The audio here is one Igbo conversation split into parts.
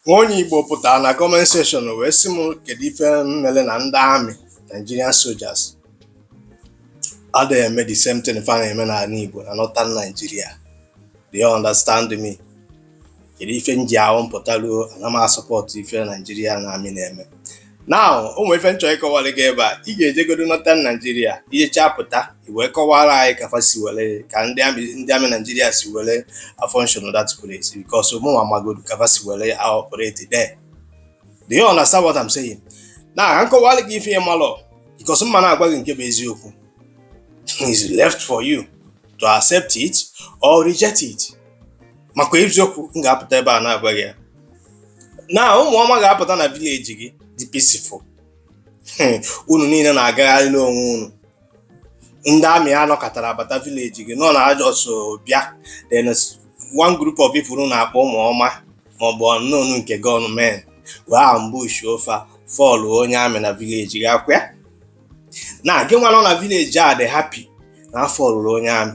Nwa onye Igbo pụtara na comment section wee sị m kedu ife mmele na ndị amị Nigerian soldiers adịghị eme the same thing fa na-eme n'anị Igbo na Northern Nigeria do you understand me kedu ife m ji abụ m pụtalụ ana m asupport ife Nigerian army na-eme now o nwere ife m chọ ịkọwara gị ebe a ị ga-ejegodo Northern Nigeria i jecha pụta i wee kọwara anyị ka fa si were ka ndị amị ndị amị naijiria si were function of that place because mụnwa amagodu ka fa si were operate there do you understand what I'm saying now ka m kọwara gị ife ị malụ because m ma na-agwa gị nke bụ eziokwu it's left for you to accept it or reject it maka eziokwu m ga-apụta ebe a na-agwa gị ya now ụmụ ọma ga-apụta na village gị dị peaceful unu niile na-agagharị n'onwe unu ndị amị anọkatara bata village gị nọ na ajọsụ bịa then one group of people na-akpọ ụmụ ọma maọbụ unknown gunmen wee ambushuo fa fall onye amị na village gị ọkwa ya now gị nwa nọ na village a dị happy na a fallụrụ onye amị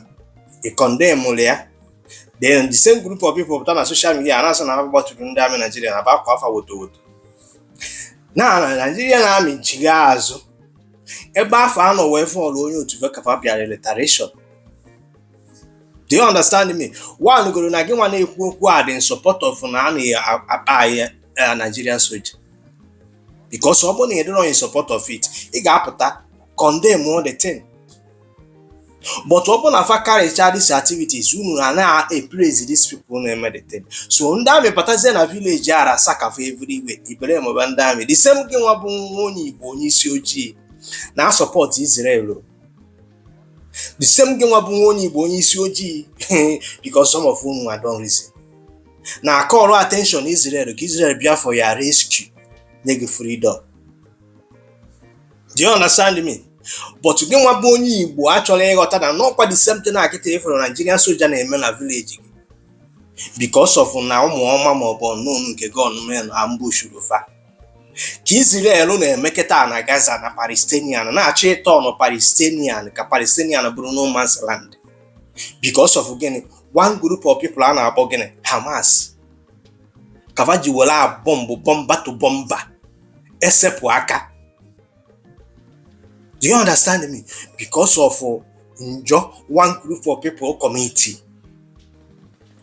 ị condemnrọ ya then the same group of people pụta na social media na-asị na ha gbatụrụ ndị amị Naijiria na-agbakwa fa woto woto now Nigerian army echigha azụ ebe afụ a nọ wee fall onye otu fa ka fa bịara retaliation do you understand me one goro na gị nwa na-ekwu okwu a dị in support of na a na-akpai eh, Nigerian soja because ọ bụrụ na ị dịrọ in support of it ị ga-apụta condemn the thing but ọ bụrụ na fa carrycha these activities unu na na-epraise these people na-eme the thing so ndị amị batazie na village a ransack fa everywhere ị blameba ndị amị the same gị nwa bụ nwa onye igbo onye isi ojii na-asupport Israel the same gị nwa bụ nwa onye igbo onye isi ojii because some of unu don't reason na-acall attention Israel ka Israel bịa for your rescue nye gị freedom do you understand me but gị nwa bụ onye igbo achọrọ ịghọta na n'ọkwa the same thing a kịta ị fụrụ Nigerian soja na-eme na village gị because of na ụmụ ọma ma ọ bụ unknown gunmen ambushuru fa ka Israel na-emeketa na Gaza na Palestinian na-achọ ịturn Palestinian ka Palestinian bụrụ no man's land because of gịnị one group of people a na-akpọ gịnị Hamas ka fa ji were bomb bumper to bumper esepụ aka do you understand me because of uh, njọ one group of people commitiri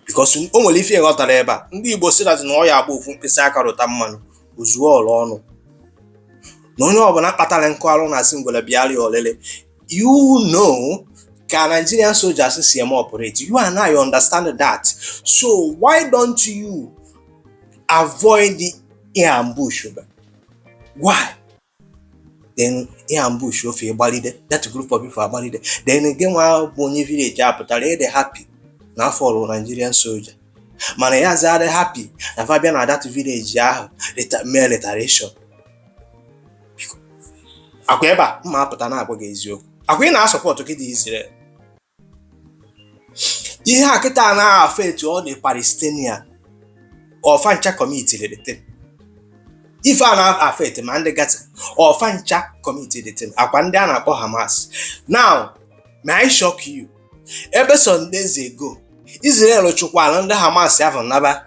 because o nwere ife ghọtara ebe a ndị Igbo sị that na ọ ya agba ofu mkpịsị aka rụta mmanụ o zuo ọra ọnụ na onye ọbụla kpatara nkụ arụ na asị ngwere bịara ya olele you know ka Nigerian soldiers si eme operate you and I understand that so why don't you avoid the ị ambush ba why then ị ambushuo fa ịgbalide that group of people agbalide then gị nwa bụ onye village a pụtara ị dị happy na afọ ọrụ Nigerian soldier mana ị yazị adị happy na fa bịa na that village ahụ mee retaliation akwa ebe a m apụta na-agwa gị eziokwu akwa ị na-asupport gide Israel ihe a kịta na-affect all the Palestinian ọ fa ncha commitiri the thing ife a na-affect ma ndị Gaza ọ fa ncha commitiri the thing akwa ndị a na-akpọ Hamas now may I shock you ebe some days ago Israel chụkwara ndị Hamas ahụ naba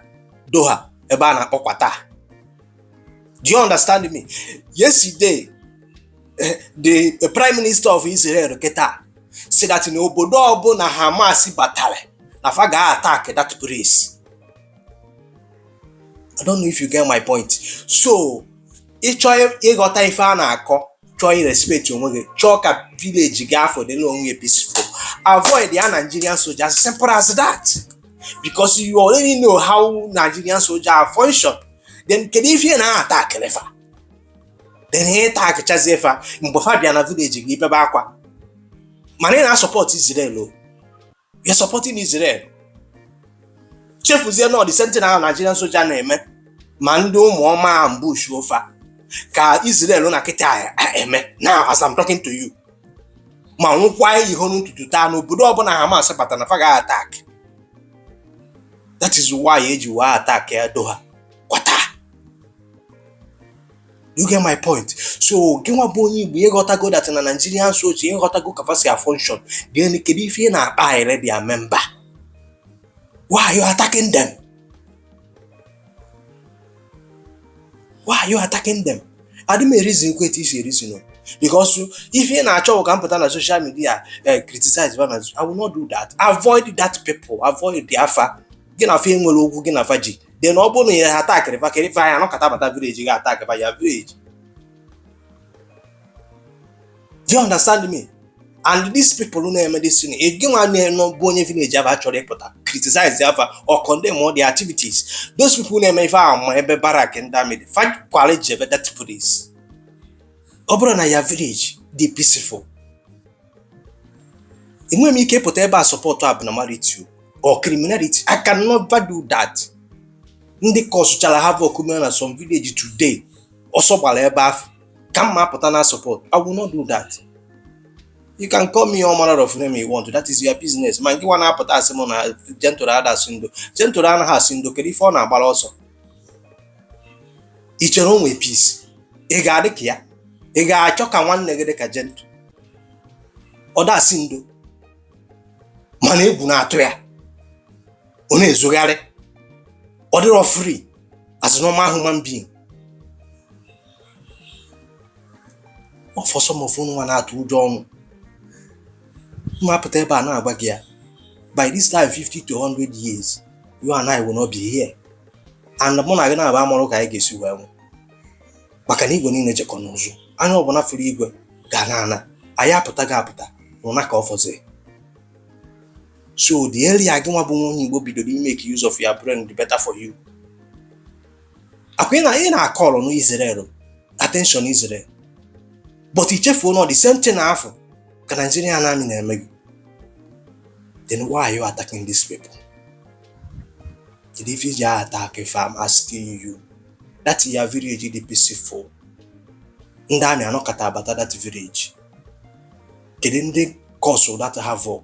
Doha ebe a na-akpọ Qatar Do you understand me? Yesterday, eh, the eh, Prime Minister of Israel kịta sị that na obodo ọbụla Hamas batara na fa ga-attack that place. I don't know if you get my point. So ị chọọ ịghọta ife a na-akọ chọọ irespect onwe gị chọọ ka village gị afụ dịrị onwe gị peaceful avoidịa Nigerian soldier as simple as that because you already know how Nigerian soldier function then kedu ife ị na-attackịrị fa then ị attackchazie fa mgbe fa bịa na village gị ị bebe akwa mana ị na-asupport Israel you're supporting Israel chefuzie na ọ the same thing na Nigerian soldier na-eme ma ndị ụmụ ọma ambushuo fa ka Israel na kịta eme now as I'm talking to you man ahụ kwu ihe n'ụtụtụ taa na obodo ọbụla Hamas bata na fa ga-attack that is why e ji wee attackịa Doha Qatar you get my point so gị nwa bụ onye Igbo ị ghọtago that na Nigerian soldier ị ghọtago ka fa si afunction gịnị kedu ife ị na-akpa anyịre bịa memba why are you attacking them why are you attacking them adị m ereasonkwa etu i si ereason because if ị na-achọ ka m pụta na social media eh, criticize ba na I will not do that avoid that people avoid ịa fa gị na fa enwere okwu gị na fa ji then ọ bụrụ na ya ha attackịrị fa kedu ife anya nọkata bata village gị attackịba your village do you understand me and these people na-eme this thing gị nwa na-enọ bụ onye village aba chọrọ ịpụta criticize fa or condemn all the activities those people na-eme ife ahụ ma ebe barrack ndị army dị fakwara ji ebe that police ọ bụrụ na your village dị peaceful enweghị m ike ịpụta ebe a support abnormality or criminality i can never do that ndị causechara havoc mere na some village today ọsọ gbara ebe afọ ka m ma apụta na-support I will not do that you can call me all manner of name you want that is your business mana gị nwa na-apụta asị m na Gentle ada asị ndo Gentle anaghị asị ndo kedu ife ọ na-agbara ọsọ i chere o nwe peace ị ga-adị ka ya ị ga-achọ ka nwanne gị dị ka Gentle ọ dasị ndo mana egwu na-atụ ya ọ na-ezogharị ọ dịrọ free as normal human being for some of unu nwa na-atụ ụjọ ọnwụ m ma apụta ebe a na-agwa gị ya by this time 50 to 100 years you and I will not be here and mụ na gị naabọ amarọ ka anyị ga-esi wee nwụ maka na igwe niile jekọ n'ụzụ anya ọbụla fụrụ igwe ga-ana ana anyị apụtago apụta ụna ka ọ fọziri so the earlier gị nwa bụ nwa onye Igbo bidoro make use of your brain the better for you akwa na ị na-akọlụ na Israel attention Israel but i chefuo na the same thing afọ ka Nigerian army na-eme gị then why are you attacking these people kedu ife i ji attack fa I'm asking you that your village dị peaceful ndị army anọkata abata that village kedu ndị cause that havoc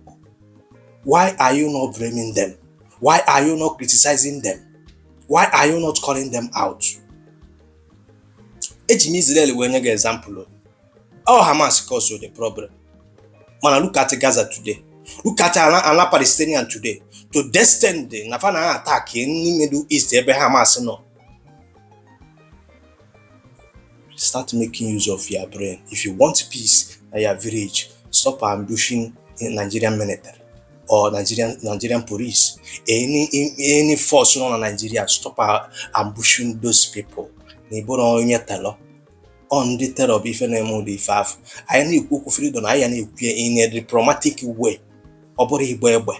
why are you not blaming them why are you not criticizing them why are you not calling them out eji m Israel wee nye gị example ọ Hamas cause the problem mana look at Gaza today look at ala Palestinian today to the extent na fa na-attack ndị Middle East ebe Hamas nọ start making use of your brain if you want peace na your village stop ambushing nigerian military or nigerian nigerian police any any force nọ na nigeria stop ambushing those people na ị bụrọ onye terror ọ ndị terror bụ ife na-eme ụdị ife afọ anyị na-ekwu okwu freedom anyị ya na-ekwu ya in a diplomatic way ọ bụrụ ịgba egbe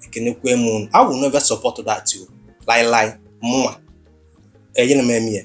ekenekwe m unu I will never support that too lai lai mụnwa enyere m eme ya